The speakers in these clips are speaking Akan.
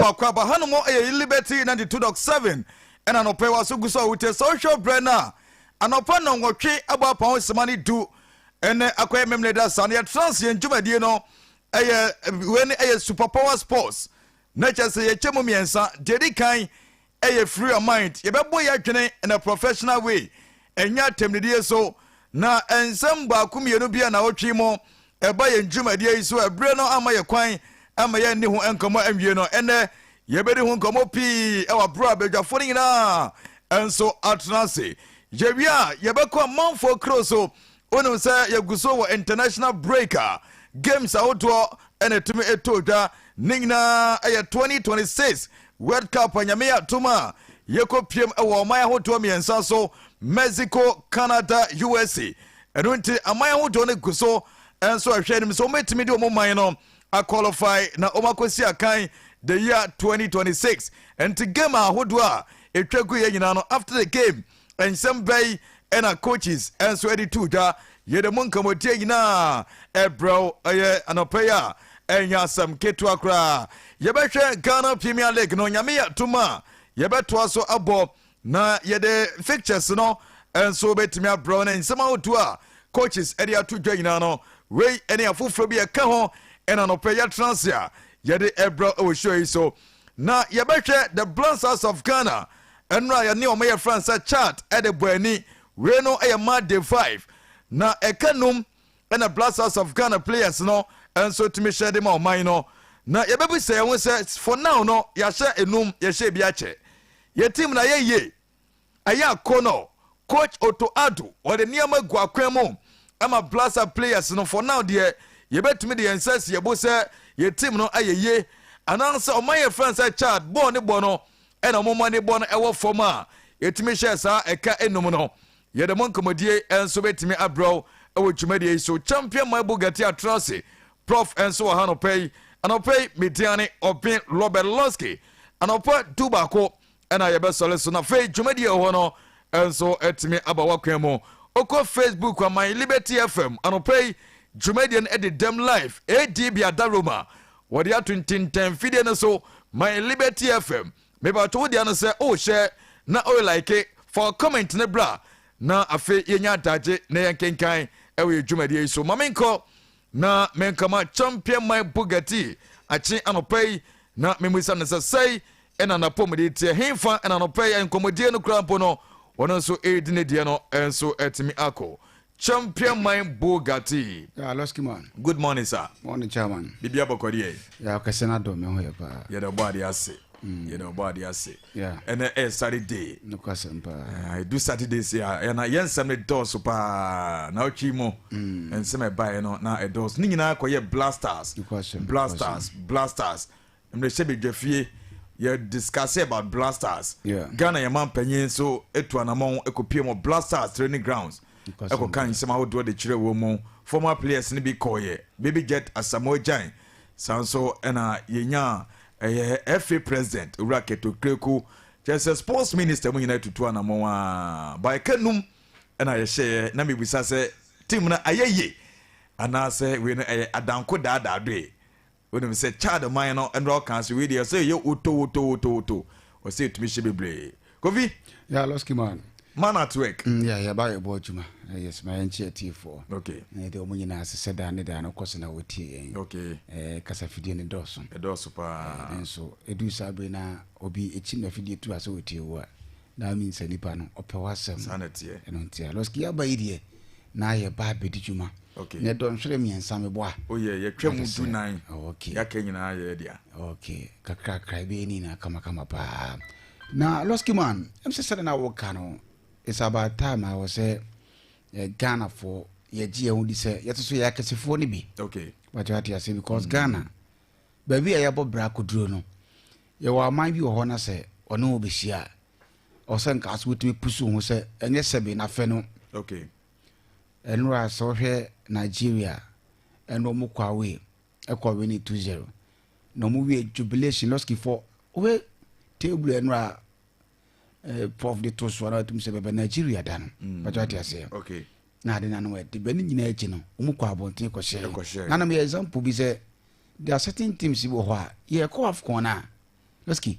Wɔ akwaaba ha nom ɛyɛ yi Liberty 92.7 ɛna anɔpa yi waso gu so a wotie sɛ wohwɛ ɔbrɛ no a anɔpa nnɔnwɔtwe abɔ apa ho sima ne du ɛnɛ akɔyɛ memene da saa no yɛtra nse yɛn dwumadie no ɛyɛ wei no ɛyɛ super power sports na kyerɛ sɛ yɛkyɛ mu mmiɛnsa deɛ di kan ɛyɛ free your mind yɛbɛbɔ yɛ adwene in a professional way ɛnyɛ atɛmnidie so na nsɛm baako mmienu bi a na wotwe mu ɛba yɛn dwumadie yi so ɛberɛ no ama yɛ kwan ama yɛn ne ho nkɔmmɔ anwie no ɛnɛ yɛbɛdi ho nkɔmmɔ pii ɛwɔ aberɛ a badwafoɔ no nyinaa nso atena ase yɛwie a yɛbɛkɔ amanfoɔ kuro so Wonim sɛ yɛgu so wɔ international break a, games ahodoɔ na ɛtumi ɛtɔ dwa. Ne nyinaa yɛ 2026 World Cup a Nyame yɛ adom a yɛkɔ piem wɔ ɔman ahodoɔ mmiɛnsa so, Mexico, Canada, USA. Ɛno nti aman ahodoɔ no gu so nso ɛhwɛ anim sɛ wɔbɛtumi de wɔn man no a qualify na wɔn akɔsi akan the year 2026. Nti game ahodoɔ a ɛtwa gu yɛ nyinaa no after the game Nsɛm bɛn na coaches nso de to dwa? Yɛde mo nkɔmmɔdie nyinaa ɛbrɛ wo ɛyɛ anɔpa yi a ɛnyɛ asɛm ketewa koraa. Yɛbɛhwɛ Ghana Premier League no, nyame yɛ atom a yɛbɛtoa so abɔ na yɛde fixtures no nso bɛtumi abrɛ wo ne nsɛm ahodoɔ a coaches de ato dwa nyinaa no wei ne afoforɔ bi ɛka ho ɛna anɔpa yɛtena ase a yɛde ɛbrɛ wɔ show yi so. Na yɛbɛhwɛ The Blonsas of Ghana, ɛno a yɛne wɔn yɛ fransa chart de bɔ ani. Wei no yɛ March day five. Na ɛka num na Blasters of Ghana players no nso tumi hyɛ de ma ɔman no. Na yɛbɛbisa yɛn ho sɛ, for now no yɛahyɛ enum, yɛhyɛ ebi akyɛ. Yɛn team no ayɛ yie? Ɛyɛ a Kono, Coach Otto Addo, wɔde nneɛma gu akwan mu ma Blaster players no. For now deɛ, yɛbɛtumi de yɛn nsa asi yɛn bo sɛ yɛn team no ayɛ yie. Anaasɛ wɔn a yɛfrɛ no sɛ Chad, bɔɔl no bɔ no na wɔn ani bɔ no wɔ fam a, yɛtumi hyɛɛ saa ɛka nnum no. Yɛde mo nkɔmmɔdie nso bɛtumi abrɛ wo wɔ dwumadie yi so. Champion Maibu Gati Atrase, Prof nso wɔ ha anɔpa yi. Anɔpa yi, me din ane Ɔben Robert Lonsky. Anɔpa du baako ɛna yɛbɛsɔre so na afei dwumadi a ɛwɔ no nso atumi aba w'akwan mu. Okɔ Facebook a My Liberty FM anɔpa yi dwumadie no ɛde dɛm live ADB Adaroma wɔde ato ntintɛn fidie no so My Liberty FM mebatɔ wo deɛ no sɛ o hyɛ na o like fa comment no bra na afei yɛnya adagye na yɛnkenkan ɛwɔ yɛ dwumadie yi so ma menkɔ Na me nka ma champion my Bugatti akye anɔpa yi na memisa no sɛ sɛe na n'apɔmuden teɛ henfa na anɔpa yi nkɔmmɔdie no koraa mpo no ɔno nso redi ne deɛ no nso atumi akɔ champion my Bugatti. Yeah, Losky man. Good morning, sir. Morning, chairman. Bibia bɔkɔdeɛ. Yeah, ɔkɛse na dɔ me ho yɛ paa. Yɛda ɔbɔ adeɛ ase. Mm. Yɛda ɔbɔ adeɛ ase. ɛnɛ ɛyɛ saturday ɛdu saturday si a ɛna yɛ nsɛm no dɔɔso paa na ɔtwi mu mm. nsɛm ɛbaeɛ no na ɛdɔɔso ne nyinaa kɔyɛ blasters blasters blasters mmerɛhyɛ badwa fie yɛ discuss about blasters ghana yɛ ma mpanyin nso ɛtu anamɔn ɛkɔpie mu blasters training grounds ɛkɔka nsɛm ahodoɔ de kyerɛ wɔ mu former players no bi kɔɔyɛ baby jet asamoah gyan Saa nso na yɛnyaa ɛyɛ FA president Owura Keto Kreku kyerɛ sɛ sports minister mu nyinaa atutu anamɔn a baeka num na yɛhyɛɛ na mebisa sɛ team no ayɛ yie anaasɛ wei no ɛyɛ adanko daadaadoe wonim sɛ Chad man no nnora ɔkaa sɛ wei deɛ sɛ ɛyɛ wotowotowotowoto ɔsɛ ɛtumi hyɛ bebree kofi. yà lọski man. man at work. Mm, yà yà bá yẹ bọ adwuma eh, yẹ sima yẹn kyi atiefo. okay. ẹ dẹ ọmọ nyinaa sisẹ daa ne daa no kọ so na wọ tie yẹn. okay. ẹ eh, kasa fidie ne dọọso. ẹ dọọso paa. ẹ eh, nso edu saa bere na obi ekyi na fidie tu ase wọ tie wo a na mi nsa nipa no ọpẹ wọ asẹm. saa na tiẹ. ẹnu ntia lọski yà bá yi deɛ na yɛ bá abedi dwuma. okay. na ɛdɔ nhwere mmiɛnsa mi bɔ a. o oh, yɛ yɛ twɛ mu du nan. okay. yà kẹ nyinaa yɛ yɛ dea. okay kakrakra ebe yɛ ni nyinaa kamakama paa. Na Losky man, ɛm sɛ sɛdeɛ na wo ka no, it's about time a wɔ sɛ eh, Ghana foɔ yɛ gye yɛ ho di sɛ yɛte so yɛ akɛsefoɔ no bi. Okay. Wate ate ase because mm. Ghana, baabi a yɛbɔ bra koduro no, yɛwɔ aman bi wɔ hɔ na sɛ ɔne wo bɛhyia a, ɔsɛ nka so wotumi pusu ho sɛ ɛnyɛ sɛbe na fɛ no. Okay. Ɛnora sɛ wohwɛ Nigeria, ɛno ɔmo kɔ away. ɛkɔ wini two zero na wɔn wie jubilation lɔskifɔ wɔhwɛ table ɛno a eh, prof de to soɔ na wɔtum sɛ bɛbɛ nigeria da no mm. bɛtɔ ate aseɛ okay. na ade nanom ɛde bɛ ne nyinaa akyi no wɔn kɔ abɔnten kɔhyɛ nanom yɛ example bi sɛ there are certain teams wɔ hɔ a yɛkɔ afcon no a Lesky,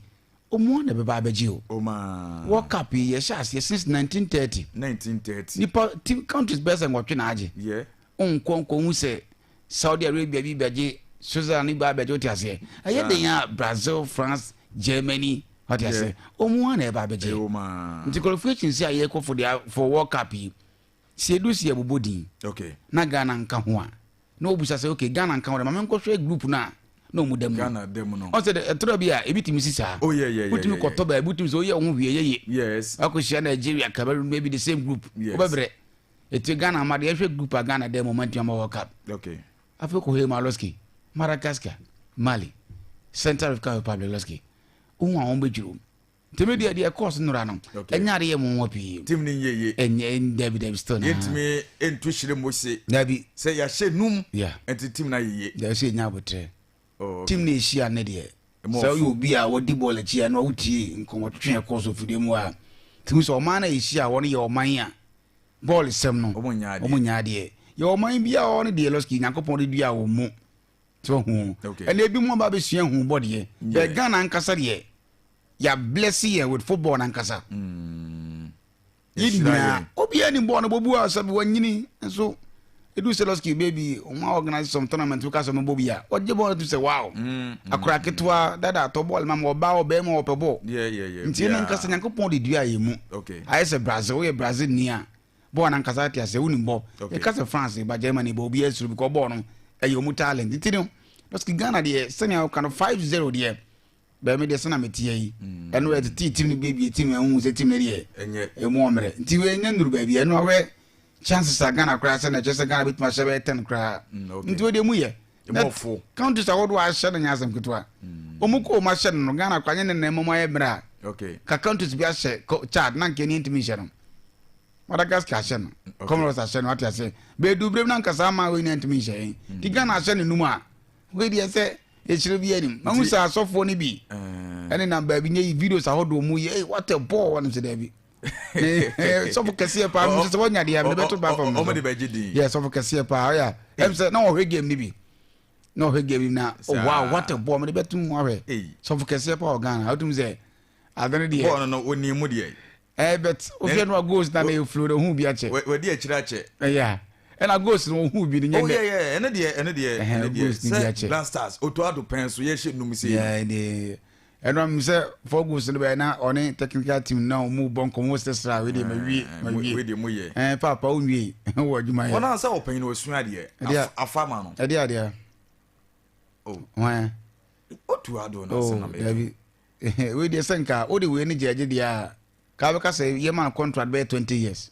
Omo na ɛbɛba abɛgye o. Omaa. World Cup yi yɛhyɛ aseɛ since nineteen thirty. Nineteen thirty. Nipa team countries bɛyɛ sɛ nwɔtwe na agye. Yɛ. Onkɔ nkɔ hu sɛ Saudi Arabia bi bɛgye Switzerland bi abɛgye wote aseɛ. Ɛyɛ den a Brazil, France, Germany wote aseɛ. Omo a na ɛba abɛgye. Yɛ omaa. Nti qualification si a yɛkɔ for the for World Cup yi. Sɛ edu si yɛbobɔ din. Okay. Na Ghana nka ho a. na ɔbisa sɛ ok Ghana nka wo dɛ ma menkɔhwɛ group no a na ɔmu da mu Ghana da mu no ɔsɛ dɛ ɛtorɔ bi a ebi tumi si saa oh yeah yeah wotumi kɔtɔ baabi wotumi sɛ woyɛ wo ho hwie yɛye yes akɔhyia Nigeria Cameroon maybe the same group wobɛbrɛ ɛti Ghana ma deɛ ɛhwɛ group a Ghana da mu ɔma ntumi ama World Cup okay afei kɔhɛ Maloski Madagascar Mali Central African Republic Loski wohu a wɔn bɛdwiri mu nti me deɛ deɛ ɛkɔɔ so nora no ɛnyɛ ade yɛ mo nwa pii tim ne nyɛ ye ɛnyɛ dabi dabi still na yɛntumi ɛntu hyerɛ mu se dabi sɛ yɛahyɛ num ɛnti tim na yɛ ye dabi sɛ ɛnya abotrɛ oh, tim na ɛhyia ne deɛ sɛ woyɛ obi a wɔdi bɔɔl akyi a na wotie nkɔmmɔtwetwe ɛkɔɔ so fidie mu a tumi sɛ ɔman no a ɛhyia a wɔn yɛ ɔman a bɔɔl sɛm no wɔn nyɛ adeɛ yɛ ɔman bi a wɔn deɛ lɔski nyankopɔn de dua wɔn mu so ahu ɛna ebi mu aba abɛsua hu bɔ deɛ bɛɛ ghana ankasa deɛ yɛablɛse yɛ with football no ankasa mm. yɛ nyinaa obiaa ni bɔɔ no bɔbu a sɛ wanyini nso ɛdu sɛ lɔski baabi ɔma organise some tournament woka sɛ mɛbɔ bi a ɔgye bɔɔl no tu sɛ wow mm, mm, akora ketewa dada atɔ bɔɔl ma ma ɔbaa ɔbɛɛma ɔpɛ bɔɔl nti ɛno ankasa nyankopɔn de dua yɛ mu ayɛ sɛ brazil woyɛ brazil ni a bɔ wɔn ankasa ate aseɛ wonim bɔ yɛka sɛ france ba germany bɔ obiara suro because bɔɔ no ɛyɛ ɔmu talent nti no parce que ghana deɛ sɛnea woka no 5 0 deɛ bɛmi deɛ sɛna meteɛ yi mm. ɛno ɛte tee tim no bɛbie tim no ɛhu sɛ tim no deɛ ɛmu ɔmmerɛ nti ɛnyɛ nnuru baabi ɛno awɛ chances a ghana koraa sɛ na ɛkyɛ sɛ ghana bɛtumi ahyɛ bɛyɛ tɛn koraa mm, nti wodeɛ mu yɛ mmɔfo counties ahodoɔ ahyɛ no nyɛ asɛm ketewa hmm. wɔn kɔ wɔn ahyɛ no no ghana kɔ anyɛ ne nan mmom ayɛ mmerɛ a ka counties bi ahyɛ chad na nka ɛni ntumi nhyɛ no madagascar ahyɛ no comoros ahyɛ no ate ase bɛɛdu berɛ mu na nkasa ama wɔn nyinaa ntumi nhyɛ yɛn hmm. nti ghana ahyɛ no num a wei deɛ sɛ ɛkyerɛ bi anim mahu sɛ asɔfoɔ no bi eh. ɛne na baabi nyɛ yi videos ahodoɔ mu yɛ what a ball wɔn sɛ daabi sɔfo kɛseɛ paa mesɛ sɛ wɔnya deɛ mede bɛto ba fam ɔmde bɛgye din yɛ sɔfo kɛseɛ paa ɔyɛ ɛm sɛ na ɔhwɛ game no bi na ɔhwɛ game na wa what a bɔɔ mede bɛto mu ahwɛ sɔfo kɛseɛ paa ɔghana wotum sɛ ade no deɛ bɔɔ no ɔnim mu deɛ ɛɛ bɛt wohwɛ no a goals na na ɛflo no ɔhu bi akyɛ wɔde akyirɛ akyɛ ɛyɛ ɛna goals no ɔhu bi no nyɛ dɛ ɛno deɛ ɛno deɛ ɛno deɛ sɛ black stars ɔtɔ ado pɛn so yɛhyɛ num sei no Ɛnam sɛ Fergus no bɛyɛ na ɔne technical team no na wɔn rebɔ nkɔmmɔ, wɔn sɛ sra wei deɛ ma wie, ma Ɛɛ, mo- wie. wei deɛ moyɛ. Ɛɛ paapa wo nwie wɔ adwuma yɛ. Wɔn a sɛ ɔpanyin na wasua adeɛ, Ɛdeɛ a- af- afa ma no. Ɛdeɛ adeɛ. Oh. Hwan a? Otu ado na Oh, asɛm na mɛka. dabi. Wei deɛ sɛ nka wode wei ne gyaagye deɛ a, ka wobɛka sɛ yɛmaa contract bɛyɛ 20 years.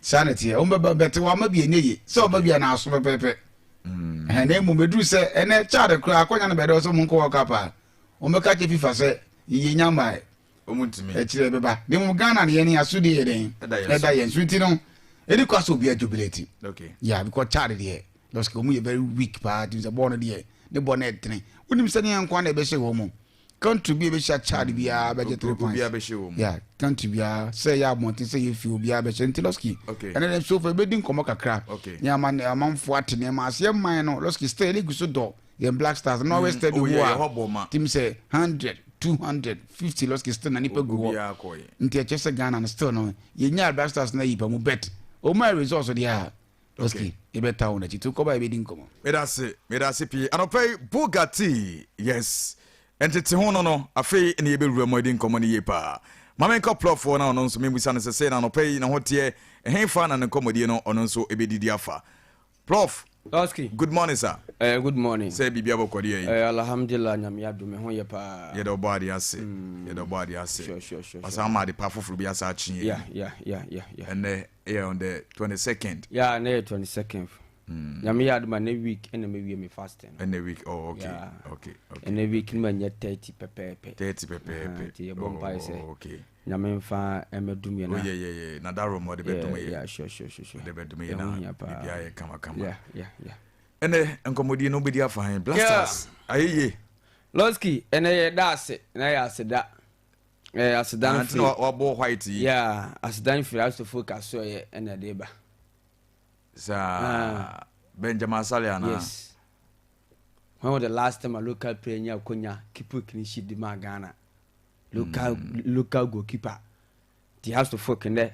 Saa na ɛteɛ. Wɔn bɛba, but wɔama bi a ɛnyɛ yie. Sɛ ɔba bi a na aso pɛpɛɛpɛ. Ɛhɛn, na mmom ɛduru sɛ ɛnɛ Chad koraa akɔnya no bɛyɛ dɛ ɔsɛ wɔn nkɔ World Cup a, wɔn bɛka akyerɛ FIFA sɛ yɛnnya mmaeɛ. Wɔn ntumi. Akyire ɛbɛba. Na mmom Ghana no yɛn asodie yɛ dɛn? Ɛda yɛn so. Nti no, ɛni kwan sɛ obiara jubilate. Okay. Yeah, because Chad deɛ, lorsque wɔn yɛ very weak paa, tumi sɛ bɔɔl no deɛ, ne bɔ no ɛtene. Wonim sɛdeɛ nko ara na ɛbɛhyɛ wɔn mu. country bi a ebehyia Chad biara bɛgye three pints obiara bɛhyɛ wɔn mu yeah country biara sɛ yɛ abɔnten sɛ yɛ fi obiara bɛhyɛ nti lɔski okay ɛnna dɛm sofa ebedi nkɔmɔ kakra okay yɛn ama amanfo ate nneɛma ase yɛn man no lɔski still yɛ legu so dɔ yɛn black stars na ɔwɛ still de wu a tim sɛ hundred two hundred fifty lɔski still na nipa gu hɔ nti ɛkyɛ sɛ ghana no still no yɛn nya black stars na yipa mu bet wɔn a results deɛ a. Doski, yɛbɛtaa wo n'akyi to kɔba yɛbɛdi nkɔmmɔ. Medase, medase pii. Anɔpa yi, Bugatti, yes. Ntete ho no no, afei ne yɛbɛwura mu adi nkɔmmɔ no yie paa. Ma menkɔ plɔfoɔ na ɔno nso membisa no sesei na anɔpa yi ne ho teɛ, ɛhefa na ne nkɔmmɔdie no ɔno nso ɛbɛdidi afa. Plɔf, Doski, good morning sir. Eh, good morning. Sɛ biribi abɔkɔ deɛ yi? Eh, Alhamdulillah, Nyame adom, me ho yɛ paa. Yɛda ɔbɔ adeɛ ase, yɛda ɔbɔ adeɛ ase. Sure, sure, sure. Wasan ama adepa foforɔ bi asa akye yɛn. Yeah, yeah, yeah, yeah, yeah. Ɛnɛ, ɛyɛ on the twenty second. ya na ɛyɛ twenty second hmm. nyame yɛ adoma ne week ɛna mɛ wie mi fasting. ɛna week oh okay yeah. okay okay ɛna week ni ma nyɛ thirty pɛpɛɛpɛ. thirty pɛpɛɛpɛ ti yɛ bɔ mpa yi sɛ okay nyame nfa ɛmɛ dum yɛ na. oyɛ yɛ yɛ na da roma ɔde bɛ dum yɛ. ya sure sure sure ɔde bɛ dum yɛ na bibi ayɛ kama kama. ya ya ya. ɛnɛ nkɔmɔdie no bɛ di afa hɛn blasters ayɛ yie. lɔski ɛnɛ yɛ da ase na yɛ ase da. ɛɛ asedan firi na ɔbɔ white yi yaa asedan firi asofo kaso yɛ ɛna ɛde ba saa ah. benjamin asale ana yes when was the last time a local player nya konya keeper clean sheet de ma ghana local mm. local goalkeeper ti asofo kende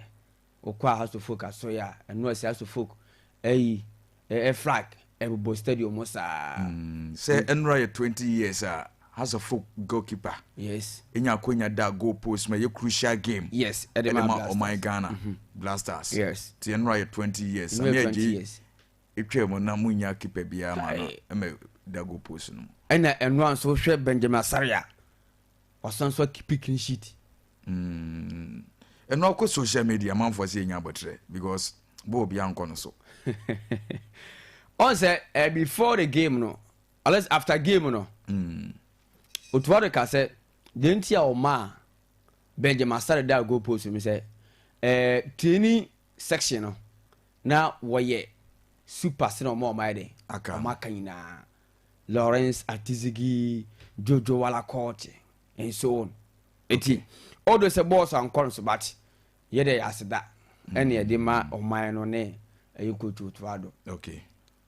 wokɔ a House of Folk asɔe a, ɛno a ɛsɛ House of Folk ayi ɛ flag ɛbobɔ stadium hɔ saa. Mm, sɛ ɛnora yɛ twenty years a House of Folk goalkeeper Yes. enya akwanya da goal post mu ɛyɛ crucial game Yes, ɛde ma ɛde ma Blasters. ɔman Ghana, Blasters. Yes. Nti ɛnora yɛ twenty years. Ɛno yɛ Samia 20 Agyei years. etwaa mu na munnya keeper biara ma no Kae. ɛmɛ da goal post no mu. Ɛna ɛno a nso wohwɛ Benjamin Asare a, Wasan nso akipi clean sheet. Mm. ɛno akɔ social media manfoɔ sɛ yɛnya abɔterɛ because bɔɔ bi ankɔ no so ɔn sɛ uh, before the game no unless after game no mm. otuwa de ka sɛ deɛ nti a ɔmaa benjamin asare da goal post no sɛ uh, training section no na wɔyɛ super sena ɔma ɔma yɛ dɛ ɔma aka nyinaa Lawrence Atizigi Jojo Wala Kɔɔkye and so on nti although sɛ bɔɔl so ankɔ no so but yɛ dɛ yɛ aseda ɛna mm. yɛde ma ɔman no ne ɛyɛ coach Otuado okay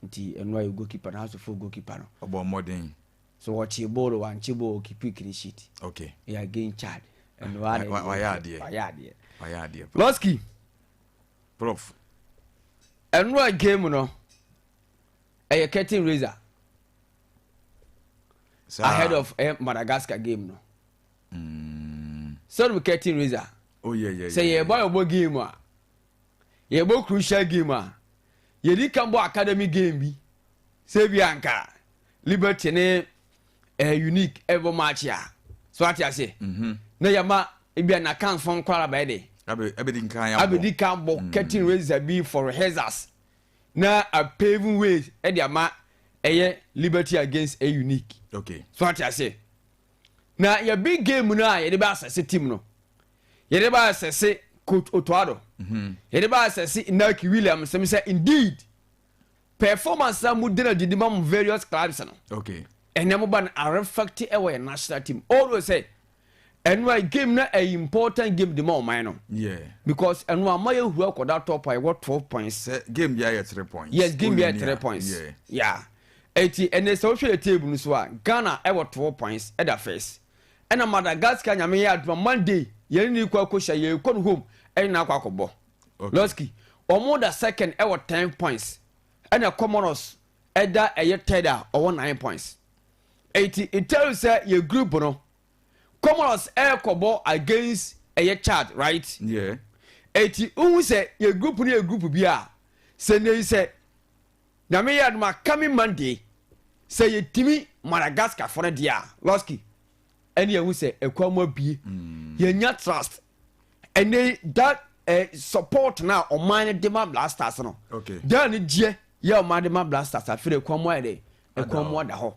nti ɛno ayɛ goalkeeper no aso fo goalkeeper no ɔbɔ mmɔden so wɔkye bɔɔl wankye bɔɔl kipi clean sheet okay yɛ again chad ɛno ara na wayɛ adeɛ wayɛ adeɛ wayɛ adeɛ lɔski prof ɛno a game no ɛyɛ curtain raiser ahead of eh, madagascar game no mm. sɛ no curtain raiser oh, yeah, yeah, sɛ yɛbɔ yeah, yɛbɔ game a yɛbɔ crucial game a yɛdi ka bɔ academy game bi sɛ bi anka liberty ne eh, unique ɛbɔ match a so ate ase mm -hmm. na yɛma ebi a nakanfoɔ nkɔla bɛyɛ de abɛdi kan bɔ mm. curtain raiser bi for rehearsals na a paving way ɛde ama ɛyɛ liberty against a unique okay so ate aseɛ na yɛ big game no a yɛde bɛ asɛse team no yɛde bɛ asɛse coach otoado mhm. yɛde bɛ asɛse inaki williams sɛm sɛ indeed performance a mo dena didi ma mo various clubs no okay ɛnɛ mo ba no arefɛkte ɛwɔ yɛ national team ɔwɔ sɛ ɛno a game na ɛyɛ important game de ma ɔman no because ɛno ama yɛ hura kɔda top a yɛwɔ twelve points. sɛ game bi ayɛ three points. yes game bi ayɛ three points. Yeah. yeah. eti ɛnna sɛ wohwɛ yɛ table no so a ghana ɛwɔ twelve points ɛda first ɛna madagascar nyame yɛ aduma monday yɛn ni kɔ akɔhyia yɛn kɔ no home ɛne na akɔ akɔbɔ lɔski wɔn da second ɛwɔ ten points ɛna comoros ɛda ɛyɛ third a ɔwɔ nine points. Enti Italy sɛ yɛ group no Comoros ɛkɔbɔ against ɛyɛ Chad right? Yeah. Enti wohu sɛ yɛ group no yɛ group bi a sɛ nɛyi sɛ nyame yɛ adoma coming Monday sɛ yɛtumi Madagascar fo no deɛ a Losky ɛne yɛhu sɛ ɛkwan mu abie mm. yɛnya trust ɛnɛyi that eh, support na ɔman no de ma blasters no okay. dɛn ne gyeɛ yɛ ɔman de ma blasters afei ɛkwan mu ayɛ dɛ ɛkɔn mu ada hɔ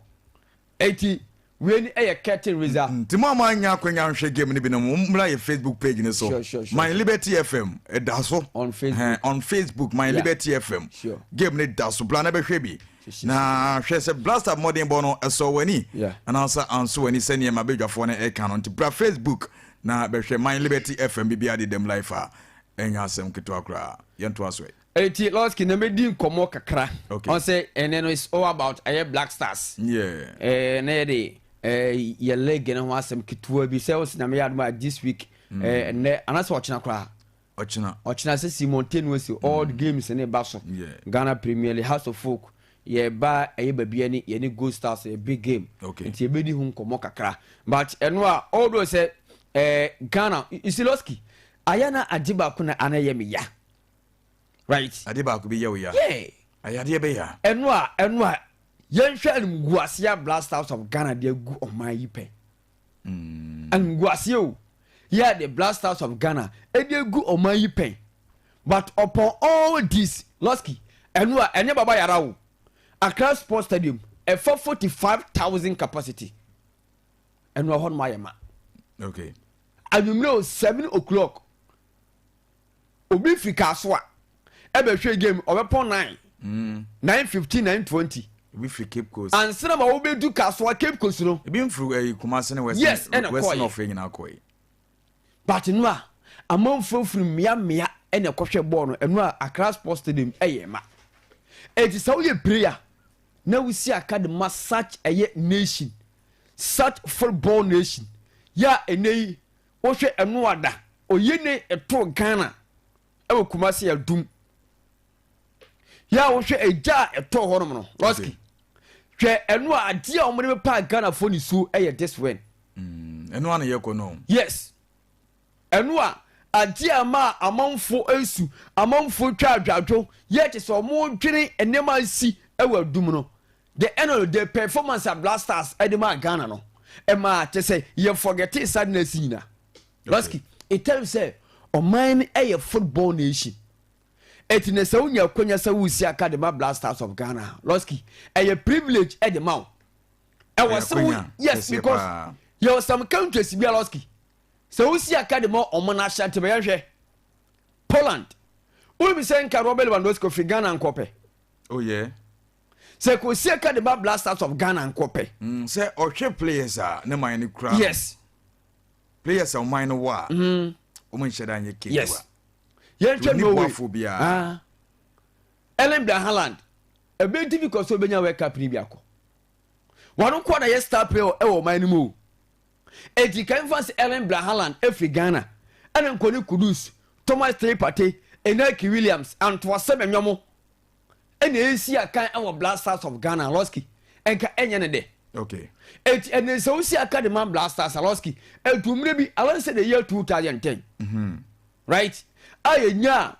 eti wei ni ɛyɛ curtain raiser. nti mo a mo anya akwanya nhwɛ game no bi no mo mmra yɛ facebook page no so sure, sure, sure, my liberty fm ɛda so on facebook, uh, on facebook my yeah. liberty fm sure. game no da so bla na bɛhwɛ bi na hwɛ sɛ blaster mmɔdenbɔ no ɛsɔ w'ani yeah. anaasɛ anso w'ani sɛ nneɛma badwafoɔ no ɛka no nti bra facebook na bɛhwɛ my liberty fm biribiara de dɛm life a ɛnyɛ asɛm ketewa koraa yɛntoa so ɛ Eti lɔski na medi nkɔmɔ kakra. Okay. Ɔn sɛ ɛnɛ no it's all about ɛyɛ black stars. Yeah. Ɛɛ na yɛ de ɛɛ yɛ leg no ho asɛm ketewa bi sɛ ɔsi na meyɛ adum a this week mm. ɛɛ ɛnɛ anasɛ ɔkyena koraa. Ɔkyena. Ɔkyena sɛ Simon Tenua si mm. all games ne ba so. Yeah. Ghana Premier League House of Folk yɛ ba ɛyɛ baabi ɛne yɛ ne Gold Stars yɛ big game. Okay. Nti ebedi ho nkɔmɔ kakra but ɛno a although sɛ ɛɛ Ghana Isiloski ayɛ na agye baako na ana yɛ mi ya. right. Adeɛ baako bɛ ya wo ya. Yeah. Ayadeɛ bɛ ya. Ɛno a ɛno a yɛnhwɛ animguaseɛ a blast house of Ghana de agu ɔman yi pɛ. Mm. Animguaseɛ o. Yeah, the blast house of Ghana ɛde agu ɔman yi pɛ. But upon all this, Losky, ɛno a ɛnyɛ baba yara o. Accra Sports Stadium ɛfa forty five thousand capacity. Ɛno a hɔ nom ayɛ ma. Okay. Anwummerɛ o seven o'clock. obi fi kaaso a ɛbɛhwɛ game ɔbɛpɔn nine mm. nine fifteen nine twenty. ebi firi cape coast. ansana ma wobɛdu kaaso a cape coast no. ebi nfiri ɛyi eh, kumasi ne west yes ɛna kɔɛ west north yɛ nyinaa kɔɛ. but no a amanfoɔ firi mmea mmea ɛna ɛkɔhwɛ bɔɔl no ɛno a akra sports stadium ɛyɛ ma ɛti sɛ woyɛ prayer na wosi aka de ma such ɛyɛ nation such football nation yɛ a ɛnɛ yi Wohwɛ ɛno a da oyene ɛto Ghana ɛwɔ Kumasi adum yɛ a wohwɛ egya a ɛtɔ hɔ nom no Roski hwɛ ɛno a adeɛ a wɔde bɛpa Ghana fo ne suo ɛyɛ this when mm, ɛno a na yɛkɔ no yes ɛno a adeɛ a ɛma amanfo nsu amanfo twa adwadwo yɛ te sɛ wɔn dwene nneɛma nsi ɛwɔ adum no The ɛno no the performance a Black Stars ɛde maa Ghana no ɛmaa kyɛ sɛ yɛ forgetee sadness nyina. Baski. In terms sɛ ɔman no ɛyɛ football nation ɛti na sɛ wonya akwanya sɛ woresi aka de ma Black Stars of Ghana a Losky ɛyɛ privilege ɛde ma wo. Ɛwɔ sɛ wo yes because yɛwɔ some countries bi a Losky sɛ wosi aka de ma ɔmo na ahyɛ ntɛmɛ yɛhwɛ Poland. Wobisa nka Robert Lewandowski ɔfiri Ghana nkɔpɛ. Oh yeah. sɛ kosie ka de ba black stars of ghana nkɔ pɛ. Mm, sɛ ɔhwɛ players a ne man no kura yes players a ɔman no wɔ a mm. wɔn nhyɛ da nyɛ ketewa yes yɛnhwɛ norway boafo biara ah. ellen bra haaland ɛbɛn tv kɔ so ɔbɛnya world cup ni bi akɔ wɔn nkoa na yɛ star player ɛwɔ ɔman no mu o eti kan fa se ellen bra haaland efiri ghana ɛna nkɔni kudus thomas three party enaki williams antoasɛm ɛnyɔmo. ɛna ɛsi akan wɔ Black Stars of Ghana Losky ɛnka ɛnyɛ ne dɛ okay eti ɛna sɛ wosi aka de ma Black Stars Losky etu mmerɛ bi I want say the year 2010 mm -hmm. right a yɛnya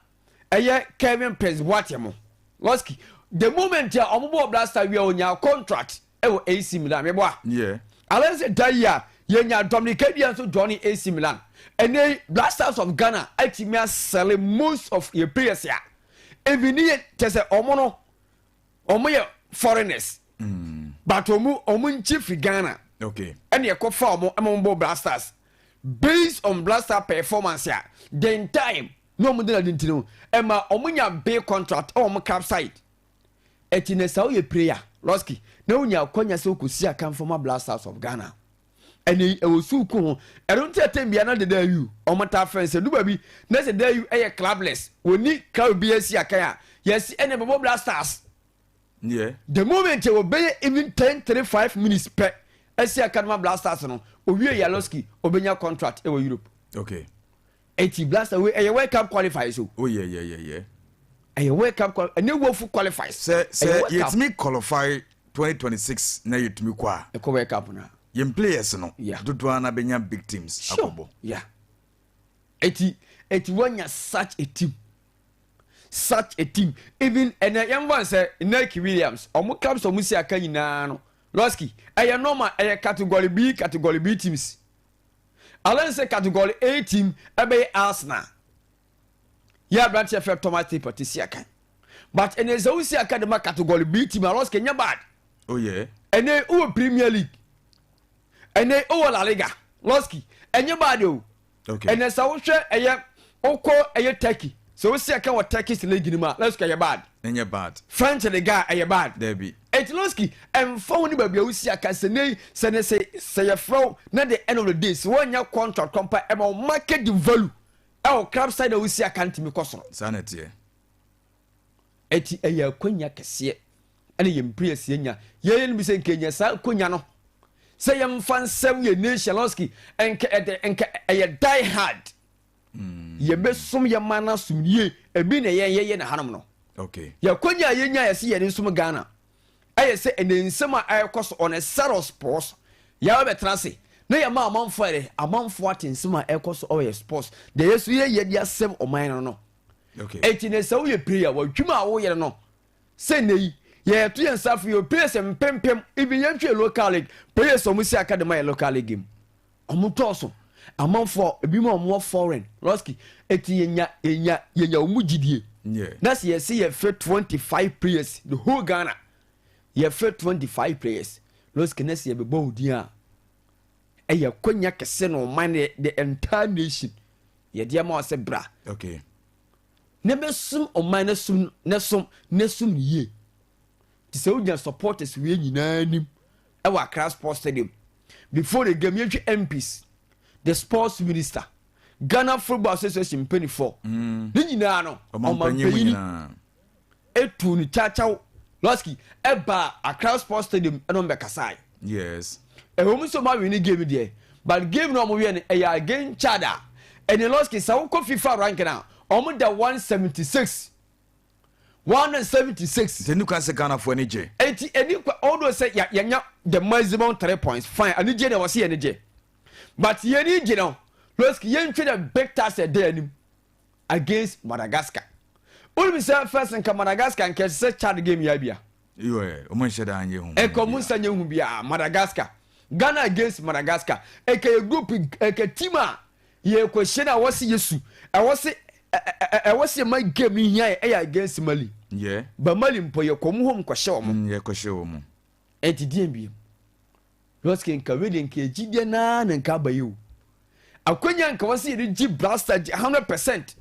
ɛyɛ Kevin Prince Boateng mo Losky the moment a wɔn bɔ Black Stars wia wɔnya contract wɔ AC Milan. Meboa? Yeah. Alan sɛ da yi a yɛnya Dominic Abia nso joine AC Milan. Ɛnɛ yi Blasters of Ghana atumi asɛle most of yɛ players a ɛmini yɛ kyɛ sɛ ɔmo no ɔmo yɛ foreigners mm. but ɔmo ɔmo nkyi firi Ghana okay. ɛne ɛkɔ fa ɔmo ɛma ɔmo bɔ Blasters based on Blaster performance a then time na ɔmo de na di nti no ɛma ɔmo nya big contract ɛwɔ ɔmo club side. Akyi no sɛ woyɛ prayer losky na wonya akwanya sɛ wokɔsi akan former Black Stars of Ghana. Ɛnɛ yi ɛwɔ suuku ho. Ɛno nti ɛtɛm biara na Dada Ayew wɔn taa frɛ no sɛ ɛdu baabi na sɛ Dada Ayew yɛ clubless wɔnni club biara si akan a yɛse ɛnɛ bɛbɔ Black Stars. Yeah. The moment ɛwɔ bɛyɛ even ten three five minutes pɛ asi akan ma Black Stars no owie yɛ losky ɔbɛnya contract ɛwɔ Europe. Okay. Eti blaster wei ɛyɛ world cup qualifiers o. Oh yeah yeah yeah yeah. Ɛyɛ world cup qual ɛnyɛ wofu qualifiers. Sɛ sɛ yɛtumi qualify 2026 na yɛtumi kɔ a. Ɛkɔ world cup na. Yɛn players no. Yeah. Dodoɔ ara na bɛnya big teams sure. akɔbɔ. Yeah. Eti eti wɔnya such a team such a team even ɛnɛ yɛn bɔ nsɛ Nike Williams ɔmo clubs ɔmo si aka nyinaa no lɔski ɛyɛ normal ɛyɛ category B category B teams Alain sɛ Category A team ɛbɛyɛ Arsenal yɛ aberanteɛ fɛ Thomas Tippett te siakan but ɛnɛ sɛ wo siakan de ma Category B team a loss kɛ nyɛ bad oh yeah ɛnɛ wowɔ Premier League ɛnɛ wowɔ La Liga loss ki ɛnyɛ bad o okay. ɛnɛ sɛ wohwɛ ɛyɛ Wokɔ ɛyɛ Turkey, sɛ wo se ɛka wɔ Turkish league no mu a, Levski ɛyɛ bad. Ɛnyɛ bad. French league a ɛyɛ bad. Dabi. Enti Levski, ɛmfa ho ne baabi a wosi aka, sɛ nnɛ yi, sɛ ne se, sɛ yɛfrɛ wo na the end of the day, sɛ woannya contract kɔ mpo a, ɛma wo market value ɛwɔ club side a wosi aka no tumi kɔ soro. Saa na ɛteɛ. Enti ɛyɛ akwanya kɛseɛ ɛna yɛn players yɛnya. Yɛyɛ no bi sɛ nka yɛnya saa akwanya no, sɛ yɛmfa nsɛm yɛn nation Levski, nka ɛde, nka ɛyɛ die hard. mm. yɛbɛsom yɛ ma no asom yie ebi na yɛn yɛyɛ na hanom no okay. yɛkɔnya a yɛnya yɛ sɛ yɛne nsom ghana ɛyɛ sɛ ɛnɛ nsɛm a ɛrekɔ so ɔne saros pɔs yɛa bɛtena ase na yɛma amanfoɔ ɛdɛ amanfoɔ ate nsɛm a ɛrekɔ so ɔyɛ sports deɛ yɛ so yɛyɛ de asɛm ɔman no no okay. ɛnti ne sɛ woyɛ prayer wadwuma a woyɛ no sɛ nnɛ yi yɛto yɛn nsa fo yɛ players mpempem even yɛntwe local league players ɔmo si aka de ma yɛ local league mu Ɔmo dɔɔso amanfoɔ ebinom a ɔmo wɔ foreign lɔski eti yenya yenya yenya ɔmo gyidie na sɛ yɛsi yɛfɛ twenty five players the whole Ghana yɛfɛ twenty five players lɔski na sɛ yɛbɛbɔ odin a ɛyɛ konya kɛse na ɔman ne the entire nation yɛde ama ɔsɛ bra okay. na bɛsum ɔman ne sum ne sum ne sum ne yie te sɛ wogyina supporters wie nyinaa nim ɛwɔ Accra Sports Stadium. Before the game, yɛhwɛ MPs, the sports minister, Ghana Football Association mpanimfoɔ, mm. ne nyinaa no, ɔmampanyini etu ne kyakyaw lɔski ɛbaa Accra Sports Stadium ɛna ɔmo bɛkasae. Yes. Ɛwɔ mu sɛ ɔmo awi ne game deɛ, but game na ɔmo wiɛ no ɛyɛ again Chad a, ɛne lɔski sɛ ɔkɔ FIFA ranking a, ɔmo da one seventy six. one hundred seventy six. sɛ ni kwan sɛ ghanafoɔ ani gye. eti ɛni kwan ɔdo sɛ ya yɛnya the maximum three points fine anigye na wɔsi yɛn gye but yɛn ni gye no losk yɛn twi the big task ɛda anim against madagascar wɔn mi sɛ first nka madagascar nka ɛsɛ sɛ chad game yɛ abia. Ɛkɔ mo nsa nyɛ hu biaa Madagascar Ghana against Madagascar ɛkɛ yɛ group ɛkɛ team a yɛ kɔ hyɛ no a wɔse yɛ su ɛwɔ se ɛwɔ se ma game no hia yɛ ɛyɛ against Mali yeah. ba Mali mpo yɛ kɔ mo home kɔ hyɛ wɔn mm, yɛ kɔ hyɛ wɔn ɛnti deɛ mbiem lɔske nka wei deɛ nka ɛgyi deɛ naa na nka abayɛ o akwanya nka wɔse yɛde gye brasta gye 100%